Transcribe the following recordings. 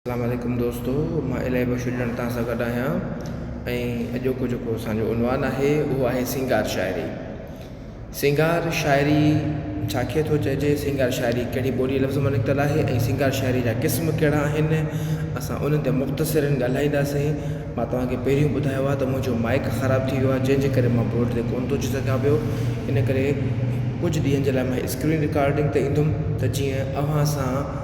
اسلام عليڪم دوستو مان الهي بخش ڄڻ توهان سان گڏ آهيان ۽ اڄوڪو جيڪو اسان جو عنوان آهي اهو آهي سينگار شاعري سينگار شاعري ڇا کي ٿو چئجي سينگار شاعري ڪهڙي ٻولي لفظ مان نڪتل آهي ۽ سينگار شاعري جا قسم ڪهڙا آهن اسان انهن تي مختصرن ڳالهائينداسين مان توهانکي پهريون ٻڌايو آهي ته منهنجو مائڪ خراب ٿي ويو آهي جنهن جي ڪري مان بورڊ تي ڪونه ٿو اچي سگهيان پيو ان ڪري ڪجهه ڏينهن جي لاء مان اسڪرين رڪارڊنگ تي ايندم ته جيئن اوهان سان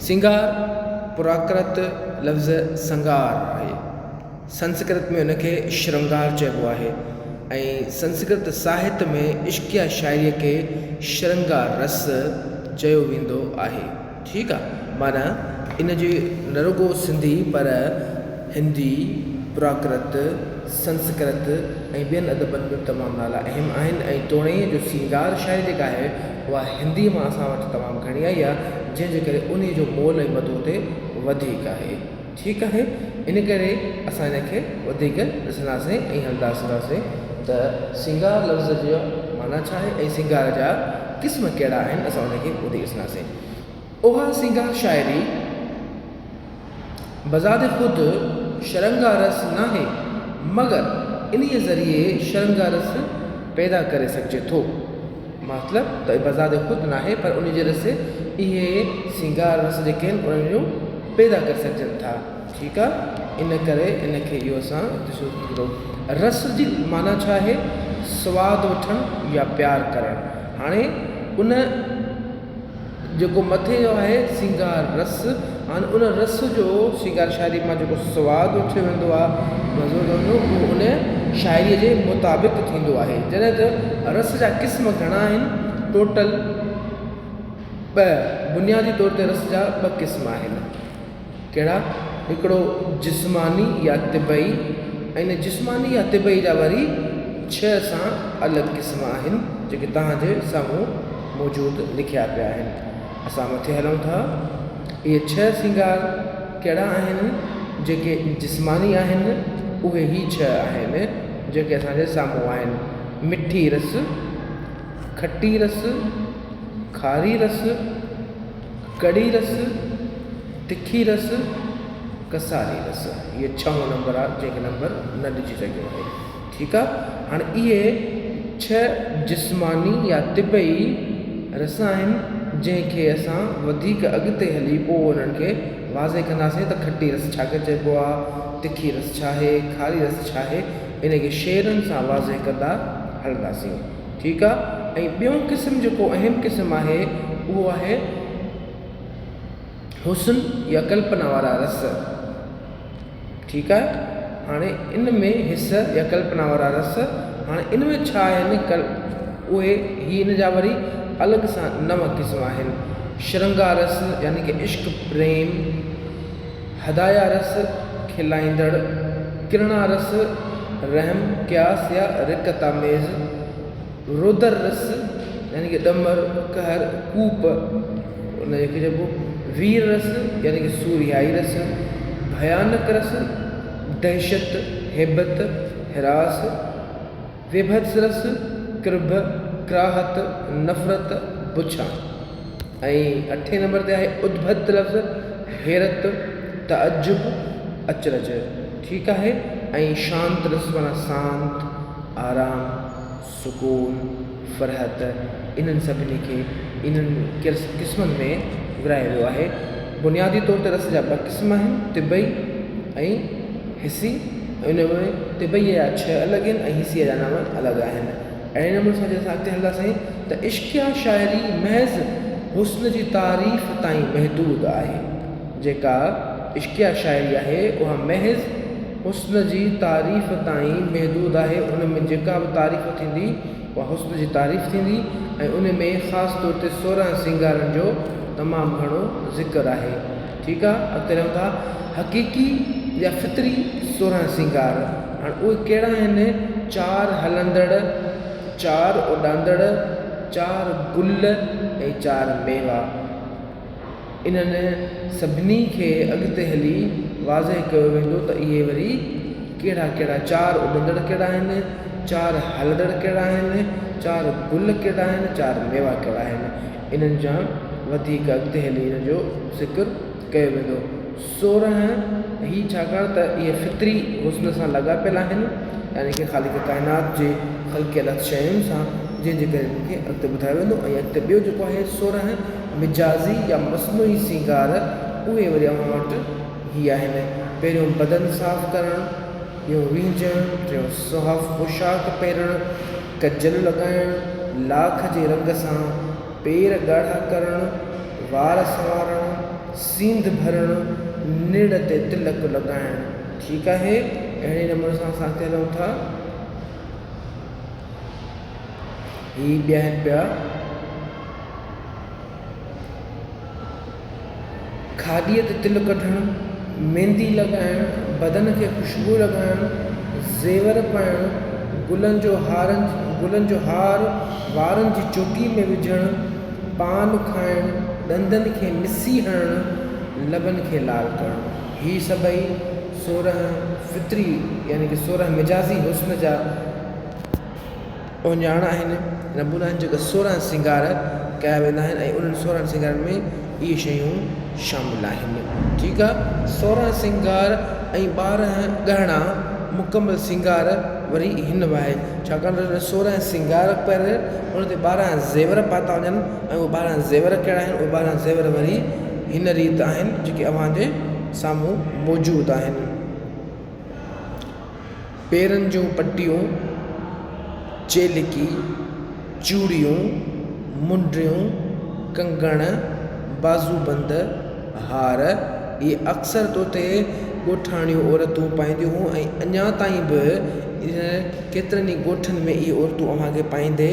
سنگار، پراڪرت لفظ سنگار آهي. سنسڪرت ۾ ان کي شرنگار چئبو آهي ۽ سنسڪرت ساهت ۾ عشقيه شاعريء کي شرنگار رس چيو ويندو آهي. ٺيڪ آ. معنيٰ ان جي نه رڳو سنڌي پر هندي، پراڪرت، سنسڪرت ۽ ٻين ادبن ۾ تمام نالا اهم آهن ۽ توڻي جو سنگار شاعري جيڪا آهي، اها هندي مان اسان وٽ تمام گهڻي آئي آهي جنهن جي ڪري انهي جو مول ۽ مدو اتي وڌيڪ آهي ٺيڪ آهي ان ڪري اسان ان کي وڌيڪ ڏسنداسين ۽ هلندا سنداسين ته سينگار لفظ جي معنيٰ ڇا آهي ۽ سينگار جا قسم ڪهڙا آهن اسان ان کي ٻڌي ڏسنداسين اها سينگار شاعري بذات خود شرنگارس ناهي، مگر انهيء ذريعي شرنگارس پيدا ڪري سگهجي ٿو. مطلب ته بذات خود ناهي، پر انهيء ذريعي اهي سينگار رس جيڪي آهن، انهن جو پيدا ڪري سگهجن ٿا. ٺيڪ آهي، ان ڪري ان کي اهو اسان ڏسيو ٿيندو. رس جي معنيٰ ڇا آهي؟ سواد وٺڻ يا پيار ڪرڻ. هاڻي ان. جيڪو مٿي جو آهي سينگار رس ۽ ان رس جو سينگار شاعري مان جيڪو سواد اٿيو ويندو آهي مزو ڪندو اهو ان شاعري جي مطابق ٿيندو آهي جڏهن ته رس جا قسم گهڻا آهن ٽوٽل ٻه بنيادي طور تي رس جا ٻه قسم آهن ڪهڙا؟ هڪڙو جسماني يا طبعي ۽ جسماني يا طبعي جا وري ڇهه سان الڳ قسم آهن جيڪي توهان جي سامهون موجود لکيا پيا آهن. اسان مٿي هلون ٿا. اهي ڇهه سينگار ڪهڙا آهن؟ جيڪي جسماني آهن اهي هي ڇهه آهن جيڪي اسان جي سامهون آهن، مٺي رس، کٽي رس، کاري رس، ڪڙي رس، تکي رس، ڪساري رس اهي ڇهون نمبر آهي جنهن کي نمبر نه ڏجي سگهيو آهي ٺيڪ آهي هاڻي اهي ڇهه جسماني يا طبعي رس آهن جنهن کي اسان وڌيڪ اڳتي هلي پوء انهن کي واضح ڪنداسين ته کٽي رس ڇا کي چئبو آهي تکي رس ڇا آهي کاري رس ڇا آهي ان کي شعرن سان واضح ڪندا هلنداسين ٺيڪ آ ۽ ٻيون قسم جيڪو اهم قسم آهي اهو آهي حسن يا ڪلپنا وارا رس ٺيڪ آهي هاڻي ان ۾ حس يا ڪلپنا وارا رس هاڻي ان ۾ ڇا آهن ڪل اهي هي ان جا وري الڳ سان نو قسم آهن شرنگا رس يعني ڪي عشق پريم هدايا رس، کلائيندڙ، ڪرڻا رس، رحم، قياس يا رقت آميز، رودر رس، يعني ڪه ڏمر، قهر، ڪوپ، ان کي چئبو وير رس، يعني ڪه سورهيائي رس، ڀيانڪ رس، دهشت، هيبت، هراس، ويڀتسرس، ڪرڀ، ڪراهت، نفرت، بڇان ۽ اٺين نمبر تي آهي ادڀت لفظ، حيرت، تعجب، اچرج ٺيڪ آهي ۽ شانترس معنيٰ سانت، آرام، سڪون، فرحت انهن سڀني کي انهن قسمن ۾ ورهايو ويو آهي. بنيادي طور تي رس جا ٻه قسم آهن، طبعي ۽. حصي ۽ ان ۾ طبعيء جا ڇهه الڳ آهن ۽ حصي جا نو الڳ آهن. اهڙي نموني سان جڏهن اسان اڳتي هلنداسين ته عشقيه شاعري محض حسن جي تعريف تائين محدود آهي. جيڪا عشقيه شاعري آهي اها محض حسن جي تعريف تائين محدود آهي، ان ۾ جيڪا به تعريف ٿيندي اها حسن جي تعريف ٿيندي ۽ ان ۾ خاص طور تي سورهن سينگارن جو تمام گهڻو ذڪر آهي. ٺيڪ آ اڳتي رهون ٿا حقيقي يا فطري سورهن سينگار هاڻ اهي ڪهڙا آهن چار هلندڙ چار اڏاندڙ چار گل ۽ چار ميوا انهن سڀني کي اڳتي هلي واضح ڪيو ويندو ته اهي وري ڪهڙا ڪهڙا چار اڏندڙ ڪهڙا آهن چار هلندڙ ڪهڙا آهن چار گل ڪهڙا آهن چار ميوا ڪهڙا آهن انهن جا وڌيڪ اڳتي هلي ان جو ذڪر ڪيو ويندو سورهن هي ڇاڪاڻ ته اهي فطري حسن سان لاڳاپيل آهن يعني ڪي خالق ڪائنات جي خلقيل شين سان جنهن جي ڪري ان کي اڳتي ٻڌايو ويندو ۽ اڳتي ٻيو جيڪو آهي سورهن مجازي يا مصنوعي سينگار اهي وري اوهان وٽ هي آهن پهريون بدن صاف ڪرڻ ٻيون وينجهڻ ٽيون صاف پوشاڪ پهرڻ ڪجل لڳائڻ، لاک جي رنگ سان پير ڳاڙها ڪرڻ، وار سنوارڻ، سينڌ ڀرڻ، نڙ تي تلڪ لڳائڻ. ٺيڪ آهي، اهڙي نموني سان اسان اڳتي هلون ٿا. هي ٻيهن پيا. کاڏيء تي تل ڪڍڻ، ميندي لڳائڻ، بدن کي خوشبو لڳائڻ، زيور پائڻ، گلن جو هار گلن جو هار وارن جي چوٽي ۾ وجهڻ، پان کائڻ، ڏندن کي مسي هڻڻ، لبن کي لال ڪرڻ، هي سڀئي سورهن فطري يعني ڪه سورهن مجازي حسن جا اوڃاڻا آهن. رنڀورا آهن جيڪا سورهن سينگار ڪيا ويندا آهن ۽ انهن سورهن سينگارن ۾ اهي شيون شامل آهن. ٺيڪ آ. سورهن سينگار ۽ ٻارهن ڳهڻا مڪمل سينگار وري هن وهي ڇاڪاڻ ته هن سورهن سينگار پهريل ان تي ٻارهن زيور پاتا وڃن ۽ اهي ٻارهن زيور ڪهڙا آهن اهي ٻارهن زيور وري هن ريت آهن جيڪي اوهان جي سامهون موجود آهن. پيرن جون پٽيون، چيلڪي، چوڙيون، منڊيون، ڪنگڻ، بازوبند، هار، اهي اڪثر طوطي ڳوٺاڻيون عورتون پائينديون هيون ۽ اڃا تائين به ڪيترن ئي ڳوٺن ۾ اهي عورتون اوهان کي پائيندي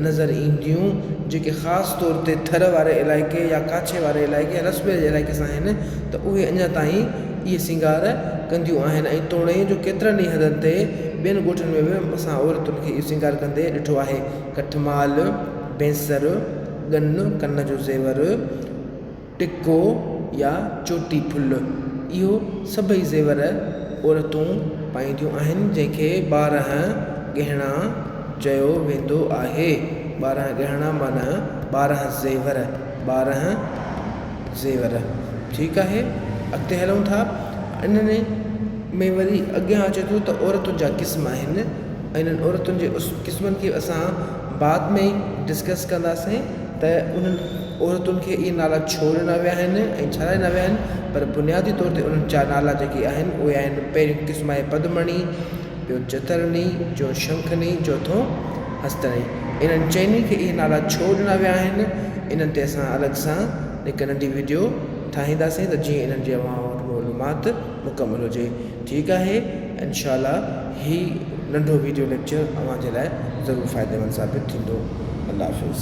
نظر اينديون جيڪي خاص طور تي ٿر واري علائقي يا ڪاڇي واري علائقي يا رسبي جي علائقي سان آهن ته اهي اڃا تائين اهي سينگار ڪنديون آهن ۽ توڻي جو ڪيترن ئي هنڌن تي ٻين ڳوٺن ۾ به اسان عورتن کي اهو سينگار ڪندي ڏٺو آهي. ڪٺ مال، بينسر، ڳن، ڪن جو زيور، ٽڪو يا چوٽي ڦل، اهو سڀئي زيور عورتون پائينديون آهن، جنهن کي ٻارهن ڳهڻا چيو ويندو آهي. ٻارهن ڳهڻا معنيٰ ٻارهن زيور، ٻارهن. زيور، ٺيڪ آهي، اڳتي هلون ٿا. انهن ۾ وري اڳيان اچي ٿو ته عورتن جا قسم آهن ۽ انهن عورتن جي قسمن کي اسان بعد ۾ ڊسڪس ڪنداسين ته انهن عورتن کي اهي نالا ڇو ڏنا ويا آهن ۽ ڇا لاء ڏنا ويا آهن پر بنيادي طور تي انهن جا نالا جيڪي آهن اهي آهن پهريون قسم آهي پدمڻي، ٻيو چترني، ٽيون شنکني، چوٿون هستڙي، انهن چئني کي اهي نالا ڇو ڏنا ويا آهن، انهن تي اسان الڳ سان هڪ ننڍي وڊيو ٺاهينداسين ته جيئن انهن جي اوهان وٽ معلومات مڪمل هجي. ٺيڪ آهي انشاء الله هي ننڍو وڊيو ليڪچر اوهان جي لاء ضرور فائديمند ثابت ٿيندو. الله حافظ.